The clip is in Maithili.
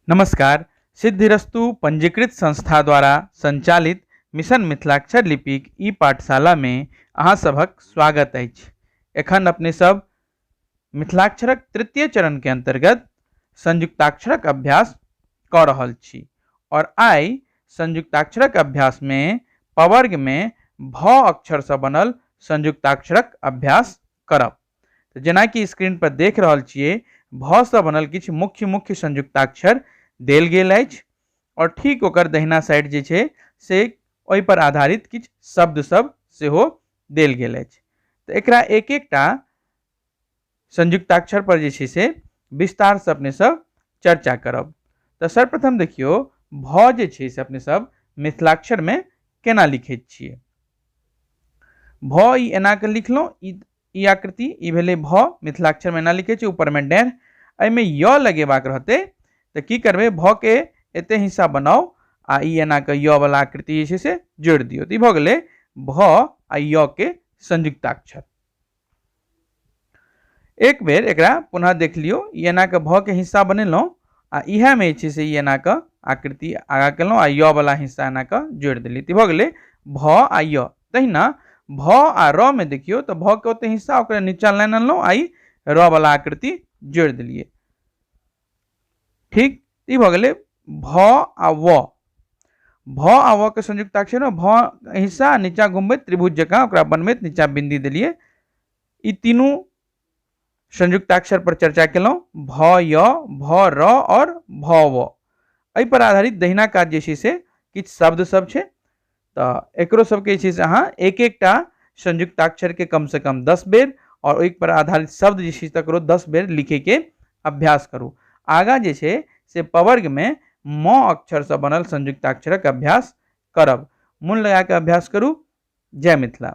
नमस्कार सिद्धिरस्तु पंजीकृत संस्था द्वारा संचालित मिशन मिथिलाक्षर लिपिक ई पाठशाला में अहाँ सभक स्वागत अछि एखन अपने सब मिथिलाक्षरक तृतीय चरण के अंतर्गत संयुक्ताक्षरक अभ्यास कऽ रहल छी और आइ संयुक्ताक्षरक अभ्यास में पवर्ग में भ अक्षर से बनल संयुक्ताक्षरक अभ्यास करब तऽ जेनाकि स्क्रीन पर देख रहल छियै भ सँ बनल किछु मुख्य मुख्य संयुक्ताक्षर देल गेल अछि और ठीक ओकर दहिना साइड जे छै से ओहि पर आधारित किछु शब्द सब सेहो देल गेल अछि तऽ एकरा एक एकटा संयुक्ताक्षर पर जे छै से विस्तार से अपने सब चर्चा करब तऽ सर्वप्रथम देखियौ भ जे छै से अपने सब मिथिलाक्षर में केना लिखैत छियै भ ई एनाके लिखलहुँ ई ई आकृति ई भेलै भ मिथिलाक्षरमे एना लिखै छै ऊपरमे डेढ़ एहिमे य लगेबाक रहतै तऽ की करबै भ के एते हिस्सा बनाउ आ ई एनाके य वला आकृति जे छै से जोड़ि दियौ तऽ ई भऽ गेलै भ आ य के संयुक्ताक्षर एक बेर एकरा पुनः देख लियौ ई एनाके भके हिस्सा बनेलहुँ आ इएहमे जे छै से ई एनाके आकृति आगाँ केलहुँ आ य बला हिस्सा एनाके जोड़ि देलियै तऽ भऽ गेलै भ आ य तहिना भ आ र मे देखियौ तऽ भ के ओते हिस्सा ओकरा नीचा लाइन अनलहुँ आ ई र बला आकृति जोड़ि देलियै ठीक ई भऽ गेलै भ आ व भ आ व के संयुक्त अक्षर में भ हिस्सा नीचा घूमबे त्रिभुज जकाँ ओकरा बनबैत नीचा बिंदी दिलिए ई तीनू संयुक्त अक्षर पर चर्चा केलहुँ भ य भ र और भ व एहि पर आधारित दहिना काज जे छै से किछु शब्द सब छै तऽ एकरो सबके जे छै से अहाँ एक एकटा संयुक्ताक्षरके कमसँ कम दस बेर आओर ओहिपर आधारित शब्द जे छै तकरो दस बेर लिखैके अभ्यास करू आगाँ जे छै से पवर्गमे म अक्षरसँ बनल संयुक्ताक्षरक अभ्यास करब मोन लगा कऽ अभ्यास करू जय मिथिला